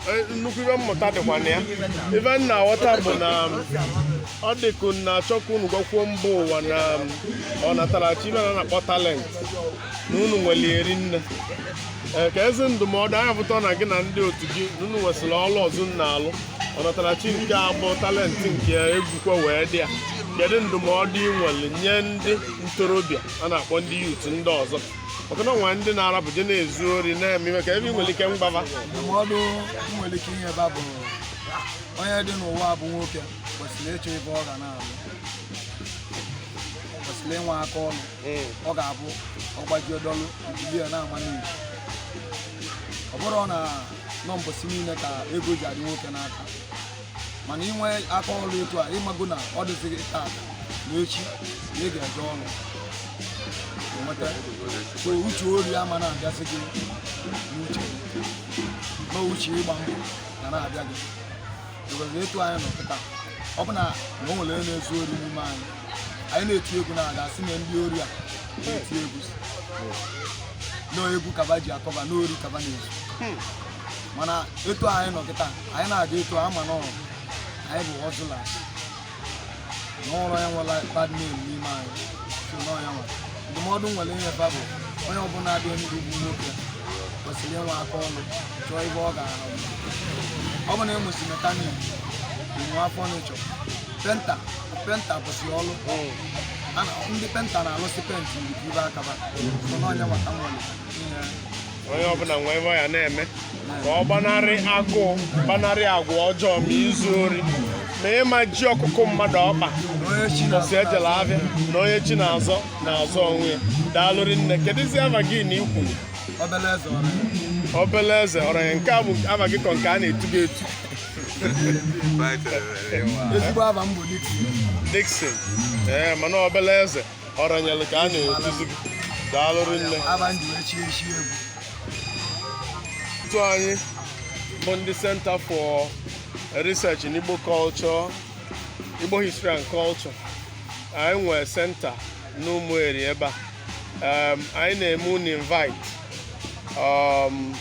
Eh, nnukwu ive mmụta dịkwa na ya ive m na-aghọta bụ na um, ọ dịka unu na-achọ ka unu gwakwuo mba ụwa na um, ọnatarachi ive a na-akpọ talent na unu nwere rinne eh, keezi ndụmọdụ nya pụta na gị na ndị otu gị na unu nwesịrị ọrụ ọzọ unu na-alụ ọnatarachi nke a bụ talent nke egwukwa wee dị ya kedu ndụmọdụ ị nwere nye ndị ntorobịa a na-akpọ ndị youth ndị ọzọ maka na o nwe ndị na-arapụ je na-ezu ori na-eme ive kee ive ị nwere ike ịgwa ba ndụmọdụ m nwere ike inye ba bụ onye dị n'ụwa bụ nwoke kwesịrị ịchọ ive ọ ga na-arụ kwesịrị ịnwe aka ọrụ ọ ga-abụ ọgbaji ọdọlụ mbibi ya na-ama n'iyi ọ bụrọ na ọ mbọsị niile ka ego ji adị nwoke n'aka mana i nwee aka ọrụ etu a ị mago na ọ dịzighị taa na echi na ị ga-eje ọrụ nweta so uche ori ama na-abịazi gị n'uche na uche ịgba mbọ ga na-abịa gị because etu anyị nọ kịta ọ bụ na na o nwere onye na-ezu ori n'ime anyị anyị na-eti egwu na a ga-asị na ndị ori a na-eti egwu na egwu ka ba ji a-cover na ori ka ba na-ezu mana etu anyị nọ kịta anyị na-aga etu a mana ọrụ anyị bụ ọzụla n'ụlọ ya nwere bad name n'ime anyị so na ọ ya nwere ndụmọdụ m nwere inye ba bụ onye ọbụla dị ndụ bụ nwoke kwesịrị ịnwe aka ọrụ chọọ ive ọ ga-arụ ọ bụ na ịmụsi mechanic inwe afọ n'ịchọ painter painter bụsị ọrụ A na- ndị painter na-alụsị penti nke ibe akaba so na ọ nya nwata nwere ihe onye ọbụla nwee ive ọ ya na-eme ka ọ gbanarị agụụ gbanarị agwa ọjọọ ma izu ori ma ịmaji ọkụkọ mmadụ ọkpa si ejela abịa na onye chi na-azọ na-azọ onwe ya daalụ rinne kedụzi ava gị na i kwu Obele Eze Ọranye nke a bụ ava gị ka ọ nke a na-etu gị etu ezigbo ava m bụ Dixon ee mana Obele Eze Ọranyelụ ka a na-etuzi gị daalụ rinne otu anyị bụ ndị Center for Research in Igbo Culture Igbo History and Culture anyị nwere center n'Ụmụeri ebe a um, anyị na-eme unu invite um,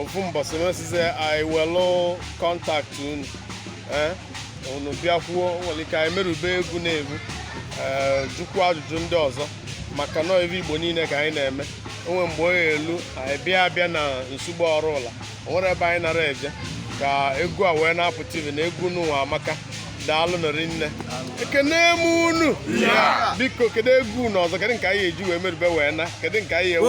ofu mbọsị mesịzie anyị welụ contact unu eh? unu bịakwuo nwere ike anyị merube egwu na-egbu ee eh, jụkwuo ajụjụ ndị ọzọ maka na ọ ive Igbo niile ka anyị na-eme o nwe mgbe onye elu anyị bịa abịa na Nsugbe ọrụ ụla o nwere ebe anyị nara eje ka egwu a wee na-apụta ive na egwu nụwa amaka daalụnụ rinne ekene m unu biko kedu egwu unu ọzọ kedu nke anyị eji wee merube wee na kedu nke anyị ewe